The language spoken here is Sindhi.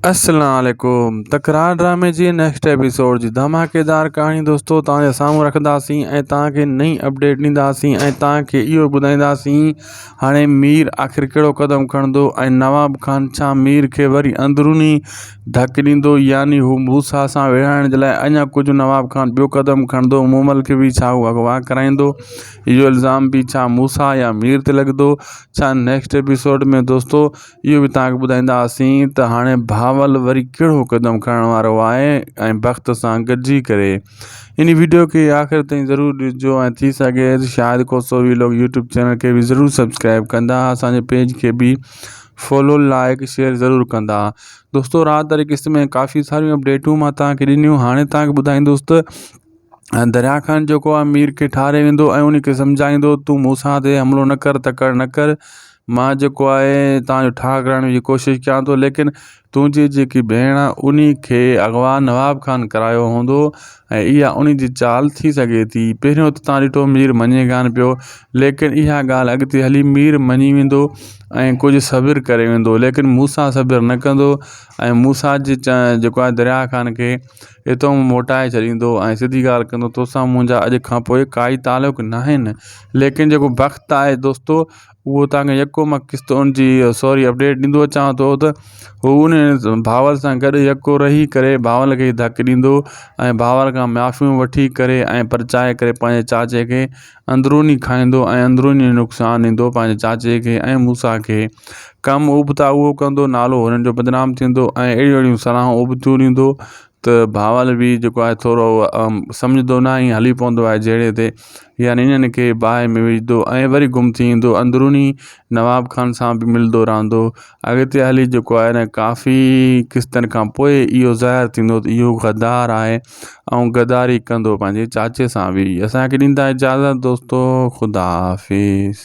اسلام عليڪم تڪرار ڊرامي جي نيڪسٽ ايپيسوڊ جي ڌماڪيدار ڪهاڻي دوستو توهان جي سامهون رکنداسين ۽ توهان کي نئين اپڊيٽ ڏينداسين ۽ توهان کي اهو ٻڌائينداسين هاڻي مير آخر ڪهڙو قدم کڻندو ۽ نواب خان ڇا مير کي وري اندروني ڌڪ ڏيندو يعني هو موسيٰ سان ويڙهائڻ جي لاء اڃا ڪجهه نواب خان ٻيو قدم کڻندو مومل کي به ڇا هو اغوا ڪرائيندو اهو الزام به ڇا موسيٰ يا مير تي لڳندو ڇا نيڪسٽ ايپيسوڊ ۾ دوستو اهو به تهانکي ٻڌائينداسين ته هاڻي بهاول وري ڪهڙو قدم کڻڻ وارو آهي ۽ وقت سان گڏجي ڪري ان ويڊيو کي آخر تائين ضرور ڏسجو ۽ ٿي سگهي شايد ڪو سو وي لوگ يوٽيوب چينل کي به ضرور سبسڪرائب ڪندا اسانجي پيج کي به فالو لائڪ شيئر ضرور ڪندا دوستو رات واري قسط ۾ ڪافي ساريون اپڊيٽون مان تهانکي ڏنيون هاڻي تهانکي ٻڌائيندوس ته ۽ دريا خان جيڪو آهي مير کي ٺاري ويندو ۽ ان کي سمجهائيندو تون مون سان تي حملو نه ڪر تڪڙ نه ڪر مان جيڪو آهي تان جو ٺاهه ڪرائڻ جي ڪوشش ڪيان ٿو ليڪن تنهنجي جيڪي ڀيڻ آهي ان کي اغوا نواب خان ڪرايو هوندو ۽ اها ان جي چال ٿي سگهي ٿي پهريون ته تان ڏٺو مير مڃي ڪانه پيو ليڪن اها ڳالهه اڳتي هلي مير مڃي ويندو ۽ ڪجهه صبر ڪري ويندو ليڪن مون سان صبر نه ڪندو ۽ مون سان جي جيڪو آهي دريا خان کي ايترو مون موٽائي ڇڏيندو ۽ سڌي ڳالهه ڪندو توسان منهنجا اڄ کان پوء ڪائي تعلق ناهن ليڪن جيڪو بخت آهي دوستو اهو تان کي يڪو مان قسط ان جي سوري اپڊيٽ ڏيندو اچان ٿو ته هو ان ڀاول سان گڏ يڪو رهي ڪري ڀاول کي ڌڪ ڏيندو ۽ ڀاول کان معافيون وٺي ڪري ۽ پرچائي ڪري پنهنجي چاچي کي اندروني کائيندو ۽ اندروني نقصان ڏيندو پنهنجي چاچي کي ۽ موسيٰ کي. ڪم ابتا اهو ڪندو، نالو هنن جو بدنام ٿيندو ۽ اهڙيون اهڙيون صلاحون ابتيون ڏيندو ته باول به جيڪو آهي ٿورو سمجهندو ناهي ۽ هلي پوندو آهي جهيڙي تي يعني انهن کي باهه ۾ وجهندو ۽ وري گم ٿي ايندو اندروني نواب خان سان به ملندو رهندو اڳتي هلي جيڪو آهي نه ڪافي قسطن کان پوء اهو ظاهر ٿيندو ته اهو غدار آهي ۽ غداري ڪندو پنهنجي چاچي سان به اسانکي ڏيندا اجازت دوستو خدا حافظ